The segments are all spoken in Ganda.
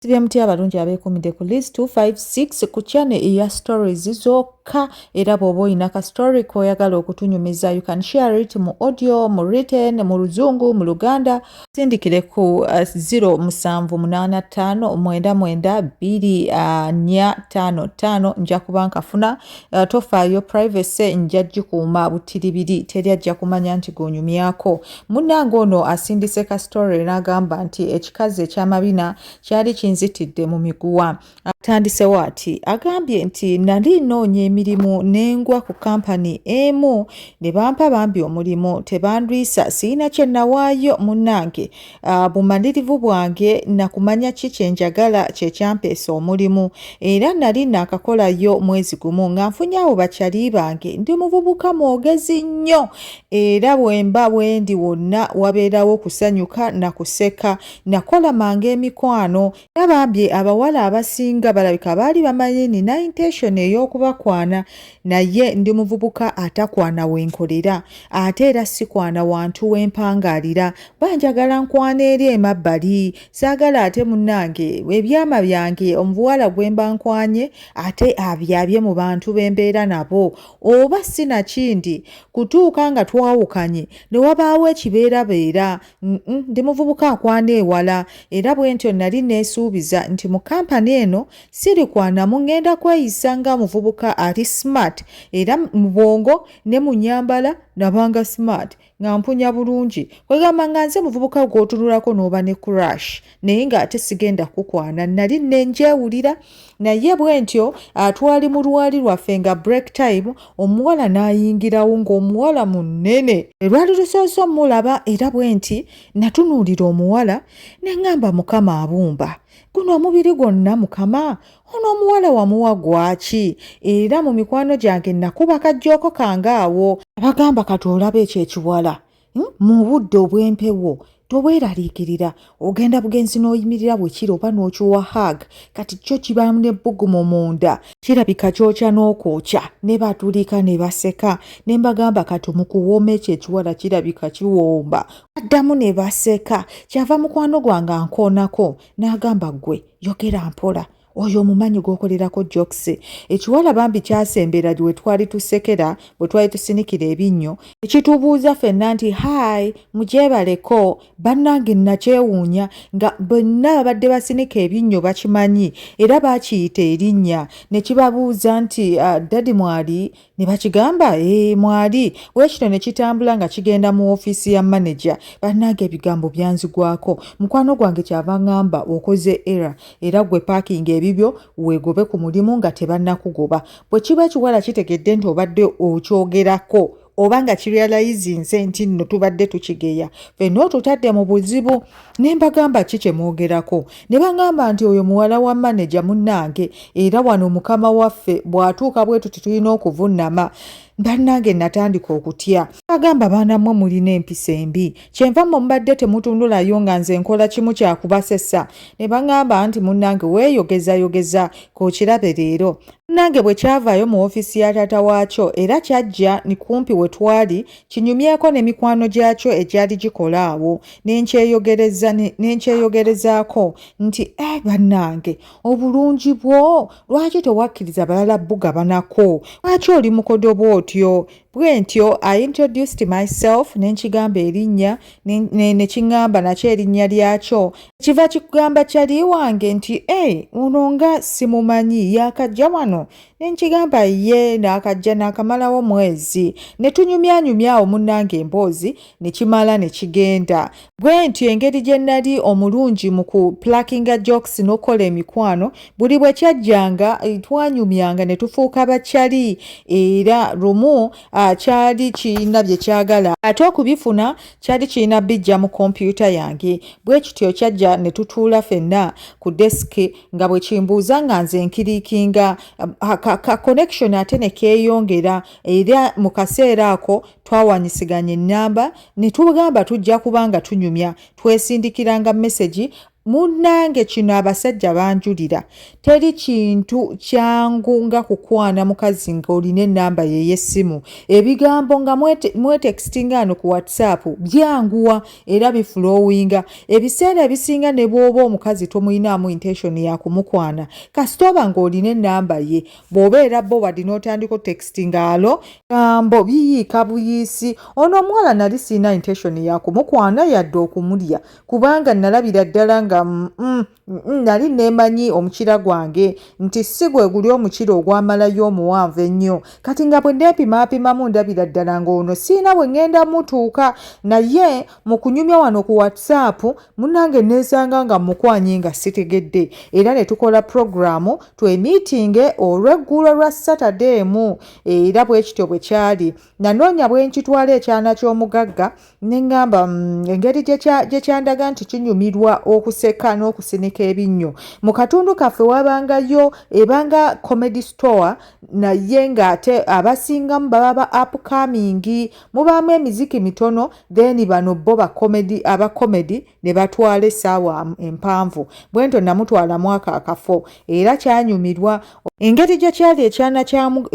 sibyemutya abalungi abekumide ku list 256 ku channel eya stories zokka era bwoba olina ka story koyagala okutunyumiza you can share it mu audio mu written mu luzungu mu luganda sindikire ku 0775992455 uh, uh, nja kuba nkafuna uh, tofaayo privacy nja gikuuma butiribiri teri ajja kumanya nti gonyumyako Munnange ono asindise ka story n'agamba nti ekikazi eky'amabina kyali kinzitidde mu miguwa. Atandisewo ati agambye nti nali nnoonya emirimu ne ngwa ku kampani emu ne bampa bambi omulimu tebandwisa sirina kye nawaayo munnange ah, bumalirivu bwange na kumanya ki kye njagala kye kyampeesa omulimu era nali naakakolayo mwezi gumu nga nfunye abo bakyali bange ndi muvubuka mwogezi nnyo era bwemba bwendi wonna wabeerawo kusanyuka na kuseka nakola manga emikwano era bambi abawala abasinga balabika baali bamanyi nina intention ey'okubakwana naye ndi muvubuka atakwana wenkolera ate era sikwana wantu wempangaalira banjagala nkwana eri emabbali saagala ate munnange ebyama byange omubuwala gwemba nkwanye ate abyabye mu bantu bembeera nabo oba si na kindi kutuuka nga twawukanye ne wabaawo ekibeerabeera. Ndi muvubuka akwana ewala era bwe ntyo nnali nneesuubiza nti mu kampani eno sirikwanamu, ŋŋenda kweyisa nga muvubuka ali smart era mu bwongo ne mu nnyambala nabanga smart. nga mpunya bulungi kwegamba nga nze muvubuka gwotunulako n'oba ne crash naye ng'ate sigenda kukwana nali nenjewulira naye bwe ntyo atwali mu lwali lwaffe nga break time omuwala n'ayingirawo ng'omuwala munene elwali lusoose omulaba era bwe nti natunuulira omuwala ne ŋŋamba mukama abumba guno omubiri gwonna mukama ono omuwala wamuwa gwaki era mu mikwano gyange nakuba kajjooko kange awo abagamba kati olaba ekyo ekiwala hmm? mu budde obw'empewo tobweraliikirira ogenda bugenzi n'oyimirira bwe kiri oba n'okiwa hag kati kyo kibaamu n'ebbugumu munda kirabika kyokya n'okwokya ne batulika ne baseka ne mbagamba kati mukuwooma ekyo ekiwala kirabika kiwomba addamu ne baseka kyava mukwano gwange ankoonako n'agamba ggwe yogera mpola oyo omumanyi gwokolerako jokisi ekiwala bambi kyasembera we twali tusekera bwe twali tusinikira ebinnyo ekitubuuza fenna nti hai mugyebaleko bannange nakyewuunya nga bonna babadde basinika ebinnyo bakimanyi era bakiyita erinnya ne kibabuuza nti ah, dadi mwali ne bakigamba ee eh, mwali weekino ne kitambula nga kigenda mu ofiisi ya maneja bannange ebigambo byanzigwako mukwano gwange kyava ngamba okoze era era gwe paakinga ebibyo weegobe ku mulimu nga tebannakugoba bwe kiba ekiwala kitegedde nti obadde okyogerako oba nga kirealizinze nti nno tubadde tukigeya fenna otutadde mu buzibu ne mbagamba ki kye mwogerako ne bangamba nti oyo muwala wa maneja munnange era wano mukama waffe bw'atuuka bwe tuti tulina okuvunnama bannange natandika okutya agamba baana mmwe mulina empisa embi kyenva mmwe mubadde temutundulayo nga nze nkola kimu kyakubasesa ne bangamba nti munnange weeyogezayogeza kokirabe leero munnange bwe kyavaayo mu ofiisi ya taata waakyo era kyajja ni kumpi we twali kinyumyeko ne mikwano gyakyo egyali gikola awo nenkyeyogerezaako nti e bannange obulungi bwo lwaki tewakkiriza balala bugabanako lwaki oli mukodo bwotyo bwentyo i introduced myself nenkigamba erinnya nekiŋamba nakyo erinnya lyakyo kiva kikugamba kyali wange nti e eh, ono nga simumanyi yakajja wano ne nkigamba ye naakajja naakamalawo mwezi ne tunyumyanyumya awo munnanga emboozi ne kimala ne kigenda bwe ntyo engeri gye nnali omulungi mu ku plakinga jokes n'okukola emikwano buli bwe kyajjanga eh, twanyumyanga ne tufuuka bakyali era lumu ah, kyali kirina bye kyagala ate okubifuna kyali kirina bijja mu kompyuta yange bwe kityo kyajja ne tutuula fenna ku desiki nga bwe kimbuuza nga nze nkiriikinga um, ka, ka connection ate ne keeyongera era mu kaseera ako twawanyisiganya ennamba ne tugamba tujja kuba nga tunyumya twesindikiranga mesegi munnange kino abasajja banjulira teri kintu kyangu nga kukwana mukazi nga olina enamba yeyessimu ebigambo nga mwetekisinga ano ku whatsapp byanguwa era bifulowinga ebiseera ebisinga ne bw'oba omukazi tomuyinaamu intention ya kumukwana kasita oba ng'olina ennamba ye bw'oba era bo wadi n'otandika otekisiti ng'alo gambo biyiika buyiisi ono omuwala nali sirina intention ya kumukwana yadde okumulya kubanga nalabira ddala nga mm, mm, nali nemanyi omukira gwange nti si gwe guli omukira ogwamalayo omuwanvu ennyo kati nga bwe neepimaapimamu ndabira ddala ng'ono siina bwe ŋŋenda mutuuka naye mu kunyumya wano ku whatsapp munange neesanga nga mukwanye nga sitegedde era ne tukola puroguraamu twemiitinge olw'eggulo lwa satade emu era bwe kityo bwe kyali nanoonya bwe nkitwala ekyana ky'omugagga ne ŋŋamba mm, engeri gye kyandaga nti kinyumirwa okuseka n'okusinika ebinnyo mu katundu kaffe wabangayo ebanga comedy store naye ng'ate abasingamu baba ba apkamingi mubaamu emiziki mitono then bano bo aba comedy ne batwala essaawa empanvu bwento namutwala mwaka akafo era kyanyumirwa engeri gye kyali ekyana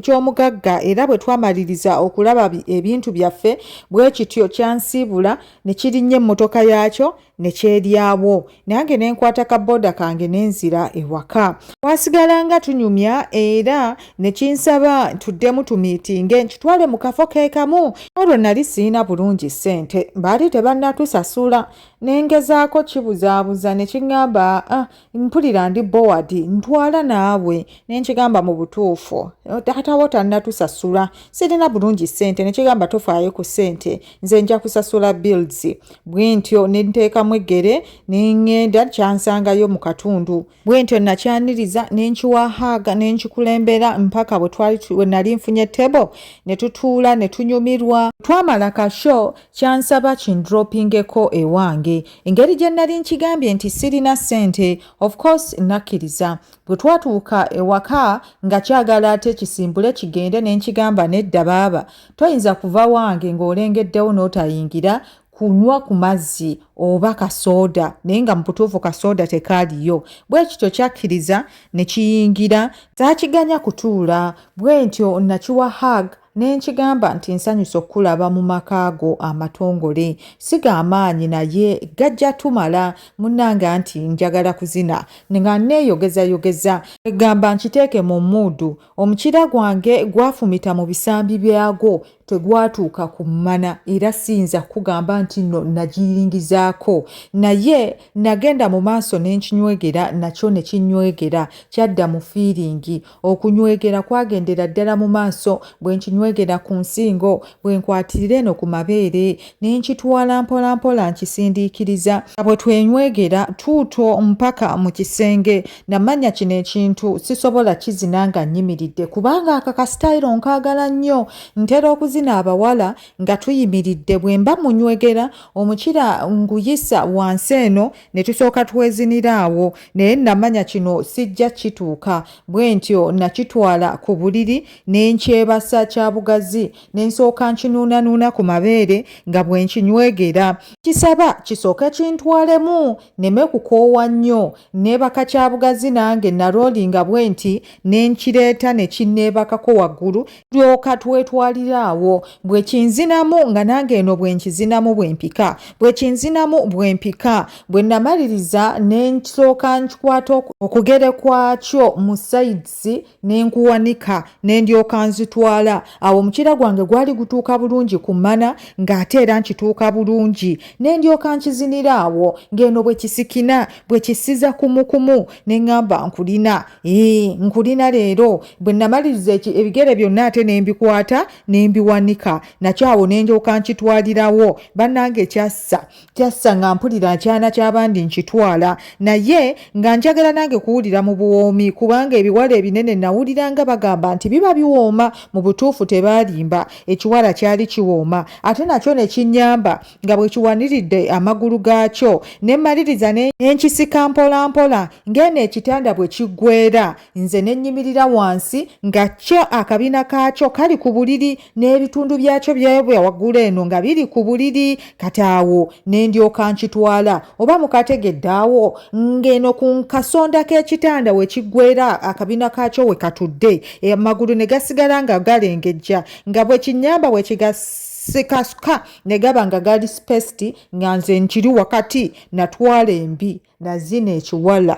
ky'omugagga era bwe twamaliriza okulaba ebintu byaffe bwe kityo kyansiibula ne kirinnya emmotoka yaakyo ne kyeryawo nange ne nkwata ka booda kange ne nzira ewaka twasigalanga tunyumya era ne kinsaba ntuddemu tumiitinge nkitwale mu kafo ke kamu olwo nali sirina bulungi ssente baali tebannatusasula ne ngezaako kibuzaabuza ne kiŋŋamba ah, mpulira ndi bowadi ntwala naawe ne nkigamba mu butuufu taatawo tannatusasula sirina bulungi ssente ne kigamba tofaayo ku ssente nze nja kusasula bills bwe ntyo ne nteekamu eggere ne ŋŋenda kyansangayo mu katundu bwentyo nakyaniriza nenkiwa haaga nenkikulembera mpaka bwenali nfunye table netutuula netunyumirwa twamala ka show kyansaba kindropingeko ewange engeri gye nali nkigambye nti sirina sente of course nakkiriza bwe twatuuka ewaka nga kyagala ate kisimbule kigende nenkigamba nedda baaba toyinza kuva wange ng'olengeddewo n'otayingira kunywa ku mazzi oba kasooda naye nga mubutuufu kasooda tekaaliyo bwe kityo kyakkiriza ne kiyingira saakiganya kutuula bwe ntyo nakiwa hag ne nkigamba nti nsanyusa okukulaba mu maka go amatongole si ga maanyi naye gajja tumala munnanga nti njagala kuzina nga nneeyogezayogeza egamba nkiteeke mu muudu Omukira gwange gwafumita mu bisambi byagwo tegwatuuka ku mmana era siyinza kukugamba nti nno nagiringizaako naye nagenda mu maaso ne nkinywegera nakyo ne kinywegera kyadda mu fiiringi okunywegera kwagendera ddala mu maaso bwe nkinywegera ku nsingo bwe nkwatirira eno ku mabeere ne nkitwala mpolampola nkisindiikiriza bwe twenywegera tuuto mpaka mu kisenge namanya kino ekintu sisobola kizina nga nyimiridde kubanga aka kasitayiro nkaagala nnyo ntera okuzina abawala nga tuyimiridde bwe mba munywegera omukira nguyisa wansi eno ne tusooka twezinira awo naye namanya kino sijja kituuka bwe ntyo nakitwala ku buliri ne nkyebasa kya bugazi ne nsooka nkinuunanuuna ku mabeere nga bwe nkinywegera kisaba kisooke kintwalemu neme kukoowa nnyo neebaka kya bugazi nange naloolinga bwe nti ne nkireeta ne kinneebakako waggulu tulyoka twetwalira awo bwe kinzinamu nga nange eno bwe nkizinamu bwe mpika bwe kinzinamu bwe mpika bwe namaliriza ne nsooka nkikwata okugere kwakyo mu sayidisi ne nkuwanika ne ndyoka nzitwala awo omukyira gwange gwali gutuuka bulungi ku mana ng'ate era nkituuka bulungi ne ndyoka nkizinira awo ng'eno bwe kisikina bwe kisiza kumukumu ne ŋŋamba nkulina ee nkulina leero bwe namaliriza ebigere byonna ate ne mbikwata ne mbiwanika nakyo awo ne ndyoka nkitwalirawo bannange kyassa kyassa nga mpulira akyana ky'abandi nkitwala naye nga njagala nange kuwulira mu buwoomi kubanga ebiwala ebinene nawulira nga bagamba nti biba biwooma mu butuufu tebaalimba ekiwala kyali kiwooma ate nakyo ne kinnyamba nga bwe kiwaniridde amagulu gaakyo ne mmaliriza ne nkisika mpolampola ng'eno ekitanda bwe kiggwera nze ne nnyimirira wansi nga kyo akabina kaakyo kali ku buliri n'ebitundu byakyo byebya waggulu eno nga biri ku buliri kati awo ne ndyoka nkitwala oba mukategedde awo ng'eno ku kasonda k'ekitanda we kiggwera akabina kaakyo we katudde amagulu ne gasigala nga galengejja nga bwe kinnyamba bwe kigasi sikasuka ne gaba nga gali spesiti nga nze nkiri wakati natwala embi nazina ekiwala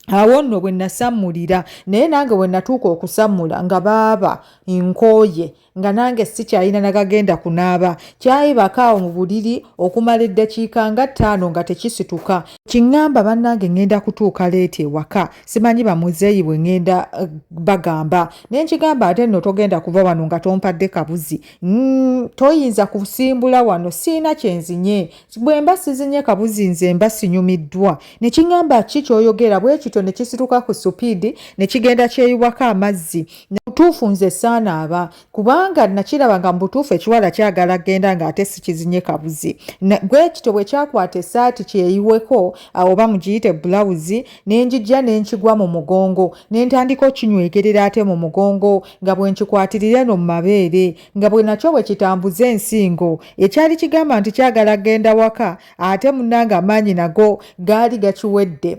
awo nno bwe nasammulira naye nange bwe natuuka okusammula nga baaba nkooye nga nange sikyalina nagagenda kunaaba kyayibakaawo mu buliri okumala eddakiika nga ttaano nga tekisituka kiŋŋamba bannange ŋŋenda kutuuka leeti ewaka simanyi bamuzeeyi bwe ŋŋenda eh, bagamba naye nkigamba ate nno togenda kuva wano nga tompadde kabuzi mm, toyinza kusimbula wano siina kyenzinye bwe mba sizinye kabuzi nze mba sinyumiddwa ne kingamba ki kyoyogera bwe kityo ne kisituka ku supiidi ne kigenda kyeyubako amazzi butuufu nze saana aba kubanga nakiraba nga mubutuufu ekiwala kyagala genda nga ate sikizinye kabuzi bwe kityo bwe kyakwata esaati kyeyiweko oba mugiyite bulawuzi ne njijja ne nkigwa mu mugongo ne ntandika okinywegerera ate mu mugongo nga bwe nkikwatirira eno mu mabeere nga bwe nakyo bwe kitambuza ensingo ekyali kigamba nti kyagala genda waka ate munnange amaanyi nago gaali gakiwedde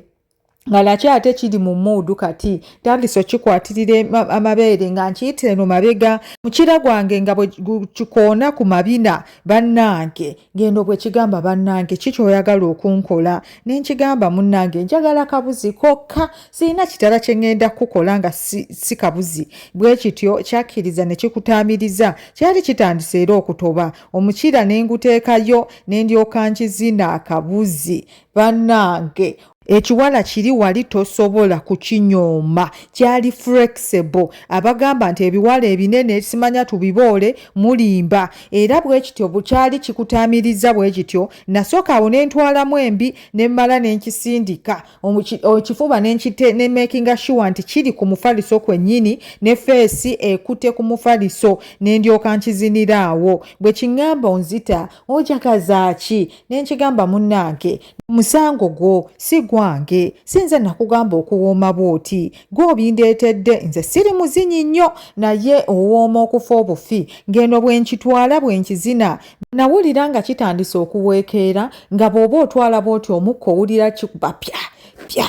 nga nakyo ate kiri mu muudu kati tandise okikwatirira amabeere nga nkiyitira eno mabega mukira gwange nga bwe kikoona ku mabina bannange genda obwekigamba bannange ki kyoyagala okunkola nenkigamba munnange njagala kabuzi kokka sirina kitala kyeŋŋenda kukukola nga si kabuzi bwe kityo kyakkiriza ne kikutaamiriza kyali kitandise era okutoba omukiira ne nguteekayo ne ndyoka nkizina akabuzi bannange ekiwala kiri wali tosobola kukinyooma kyali flexible abagamba nti ebiwala ebinene simanya tubiboole mulimba era bwe kityo bukyali kikutaamirizza bwe kityo nasooka awo ne ntwalamu embi ne mmala ne nkisindika ekifuba ne nkite ne makinga shuwa nti kiri ku mufaliso kwennyini ne feesi ekute ku mufaliso ne ndyoka nkizinira awo bwe kiŋŋamba onzita ojagazaaki nenkigamba munnange musango gwo si gwange si nze nakugamba okuwooma bw'oti gwe obindeetedde nze siri muzinyi nnyo naye owooma okufa obufi ng'eno bwe nkitwala bwe nkizina nawulira nga kitandise okuweekeera nga bw'oba otwala bw'oti omukka owulira kikubapya pya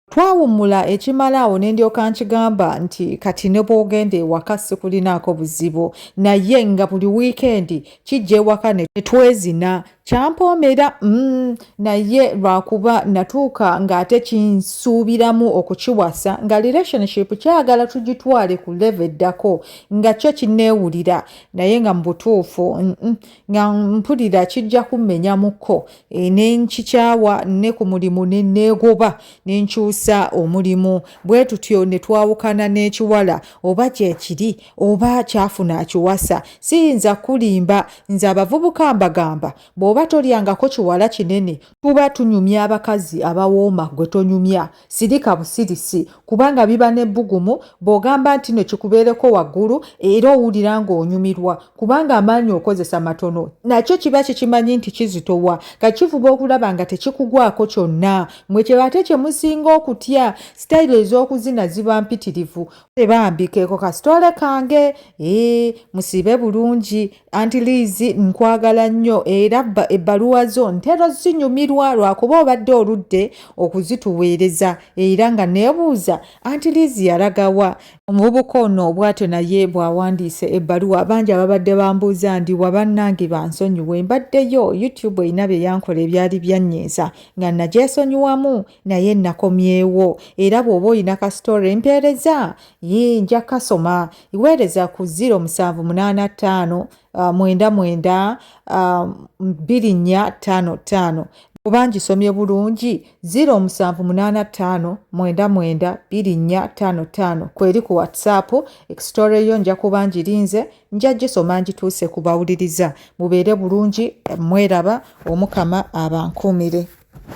Twawummula ekimala awo ne ndyoka nkigamba nti kati ne bw'ogenda ewaka sikulinaako buzibu naye nga buli wiikendi kijja ewaka ne twezina kyampoomera mm, naye lwakuba natuuka ng'ate kinsuubiramu okukiwasa nga relationship kyagala tugitwale ku leve eddako nga kyo kinneewulira naye nga mu butuufu mm, mm, nga mpulira kijja kummenyamuko e, ne nkikyawa ne ku mulimu ne neegoba ne nkyusa omulimu bwe tutyo ne twawukana n'ekiwala oba kyekiri oba kyafuna akiwasa siyinza kulimba nze abavubuka mbagamba bw'oba tolyangako kiwala kinene tuba tunyumya abakazi abawooma gwe tonyumya sirika busirisi kubanga biba n'ebbugumu bw'ogamba nti no kikubeereko waggulu era owulira ng'onyumirwa kubanga amaanyi okozesa matono nakyo kiba kikimanyi nti kizitowa kakivuba okulaba nga tekikugwako kyonna mwe kye ate kye musinga okutya sitayiro ez'okuzina ziba mpitirivu bambi keeko kasitole kange ee musibe bulungi anti liizi nkwagala nnyo era ebbaluwa zo ntera zinyumirwa lwakuba obadde oludde okuzituweereza era nga neebuuza anti liizi yalagawa omuvubuka ono bwatyo naye bw'awandiise ebbaluwa bangi ababadde bambuuza ndi wabannange bansonyiwe mbaddeyo youtube erina bye yankola ebyali byanyiiza nga nagyesonyiwamu naye nakomyewo era bw'oba olina ka story mpeereza yii nja kasoma iweereza ku 0 musanvu munaana ttaano uh, mwenda mwenda uh, bbiri nnya ttaano ttaano oba ngisomye bulungi 0 musanvu munaana ttaano mwenda mwenda bbiri nnya ttaano ttaano kweri ku whatsapp ekisitore yo nja kuba ngirinze nja gisoma ngituuse ku bawuliriza mubeere bulungi mweraba omukama abankuumire